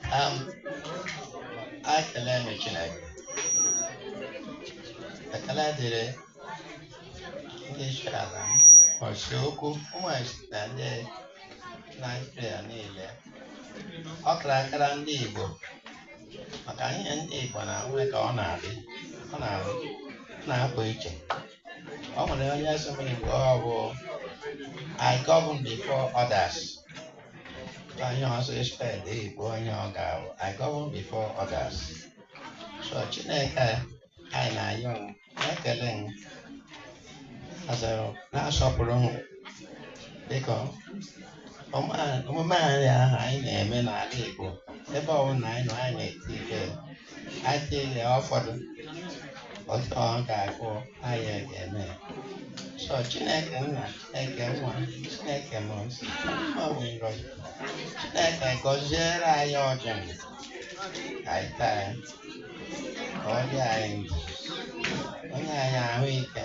Um, ekele m Chineke ekele dịrị ndị isi ala m ọchị okwu ụmụachị na ndị Naịjirịa niile ọ kara akara ndị Igbo maka ihe ndị Igbo na-enwe ka ọ na-adị ọ na-adị na-apụ iche ọ nwere onye sị m Igbo ọ bụ I govern before others onye ọzọ expect Igbo ihe ọ ga-abụ I govern before others so Chineke anyị na-ayọ ma na-ekele m asịrị na-asọpụrụ m biko Ọma- omume anyị ahụ anyị na-eme n'ala Igbo ebe ọbụla anyị nọ anyị na-eti ile anyị tie ile ụfọdụ otu ọ ga-agụ anyị ga-eme ya. so Chineke nna Chineke nwa Chineke mmụọ nsọ ọ bụ ngọzi Chineke gọziere anyị ọjị ndụ ka anyị taa ya ka ọ dị anyị ndụ o nye anyị ahụ ike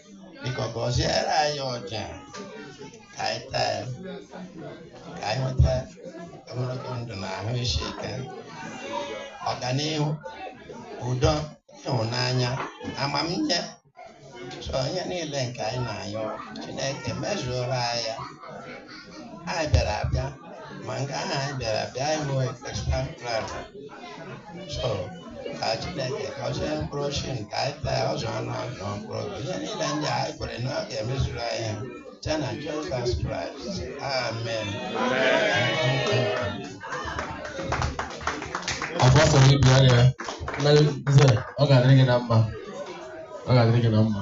biko gọziere anyị ọjị a ka anyị taa ya ka anyị nweta ogologo ndụ na ahụ isi ike ọganihu udo ịhụnanya amamihe so ihe niile nke anyị na-ayọ Chineke mezuoro anyị ya anyị bịara abịa ma nke ahụ anyị bịara abịa anyị nwee extra plan so ka Chineke gọzie mkpụrụ ọjị nke anyị taa ọ zụọ anụ ahụ zụọ mkpụrụ obi ihe niile ndị anyị kwere na ọ ga-emezuru anyị site na Jizọs Kraịst amen Apostle Ibia ya, ọ ga-adịrị gị na mma. Ọ ga-adịrị gị na mma.